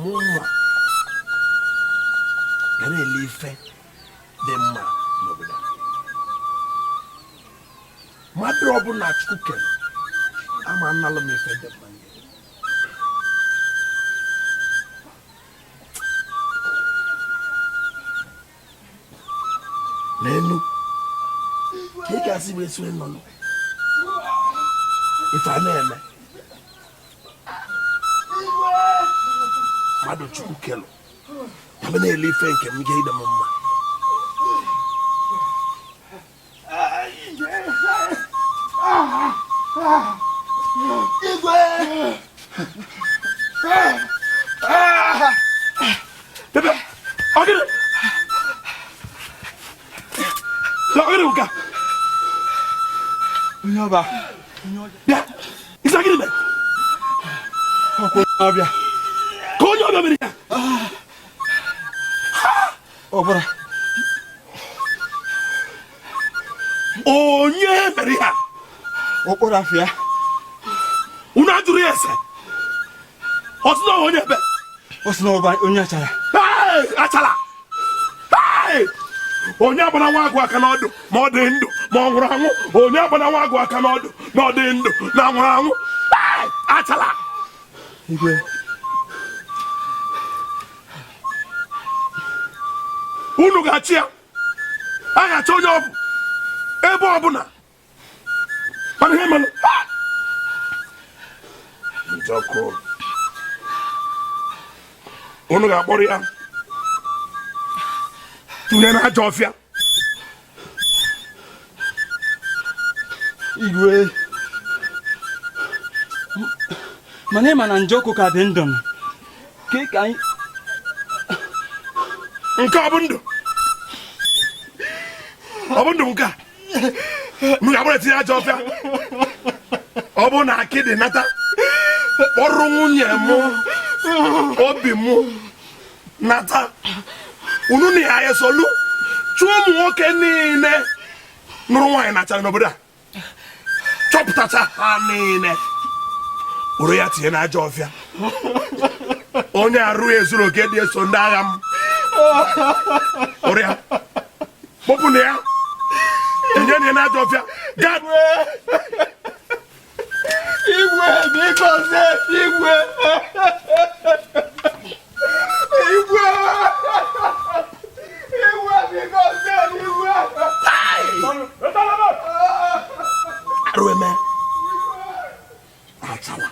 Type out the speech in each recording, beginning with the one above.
mụnwa ga na-ele ife dị mma n'obodo mmadụ ọbụla chukwu kere ama analụ m ife dị mma leenụ ka ị ga-asị wee sue nnọnụ ife a na-eme mmadụ chukwu kelụ ya na-ele ife nke m ga-adị m mma ọba bịa ịsa gịnị mere ọbịa ka onye ọbịa mere ya ọ bụrụ onye mere ihe a okporo afịa unu ajụrụ ya ese ọ sị na ọ bụ onye ebe ọ sị na ọ bụ onye achara achara onye akpana nwa agụ aka n'ọdụ ma ọ dị ndụ ma ọ nwụrụ anwụ onye akpana nwa agụ aka n'ọdụ na ọ dị ndụ na ọ nwụrụ anwụ achara unu ga-achị ya a ga-achọ onye ọ bụ ebe ọbụla mana ihe mere njọkụ unu ga-akpọrọ ya tụnye na ajọ ọfịa igwe mana ịma na njọkụ ka dị ndụ ka ka anyị nke ọ bụ ndụ ọ bụ ndụ nke a m ga-eburu tinye ajọ ọfịa ọ bụ na akịdị nata kpọrọ nwunye m obi m nata unu na ya esolu chọọ ụmụ nwoke niile nụrụ nwaanyị n'achara n'obodo a chọpụtacha ha niile were ya tinye n'ajọ ọfịa onye arụ ezuro oke dị eso ndị agha m ọrịa kpọpụ nụ ya tinye nụ ya n'ajọ ọfịa igwe bikozie igwe igwe igwe bikozie igwe arụ eme achala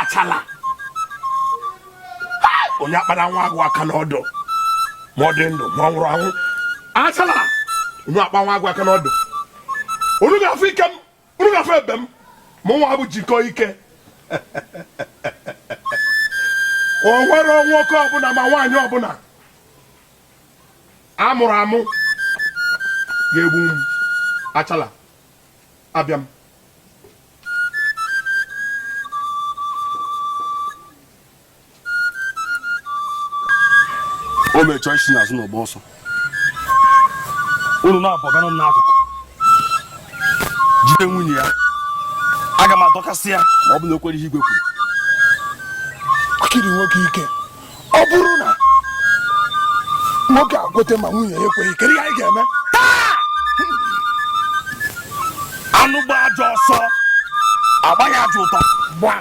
achala onye akpara nwa agụ aka n'ọdụ ma ọ dị ndụ ma ọ nwụrụ anwụ achala onye akpa nwa agụ aka n'ọdụ unu ga-afụ ike m unu ga-afụ ebe m mụ nwa bụ jikọ ike o nwere nwoke ọbụla ma nwaanyị ọbụla a mụrụ amụ ga-egbu m achala abịa m o mechọọ isi n'azụ na ọgba ọsọ unu na-abọgana m n'akụkụ jide nwunye ya aga m adọkasị ya ma ọ bụ na o kwere ihe igwe kwuru kiri nwoke ike ọ bụrụ na nwoke ekwete ma nwunye ya ekweghị kedu ihe anyị ga-eme anụ gbaa ajọ ọsọ a gbaa ya ajọ ụta gbaa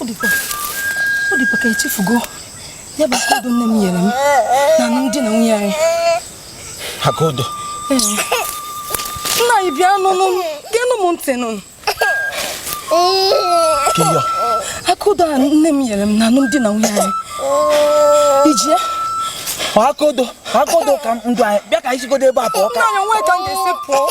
ọ dịkwa ka i chefugo ya bụ aka odo nne m nyere m na alụmdi na nwunye anyị aka odo nna anyị bịa nụnụ geenụ m ntị nụnụ aka odo a nne m nyere m na alụmdi na nwunye anyị i ji ya aka odo aka odo nna anyị bịa ka anyị sigodo ebe a pụọ ka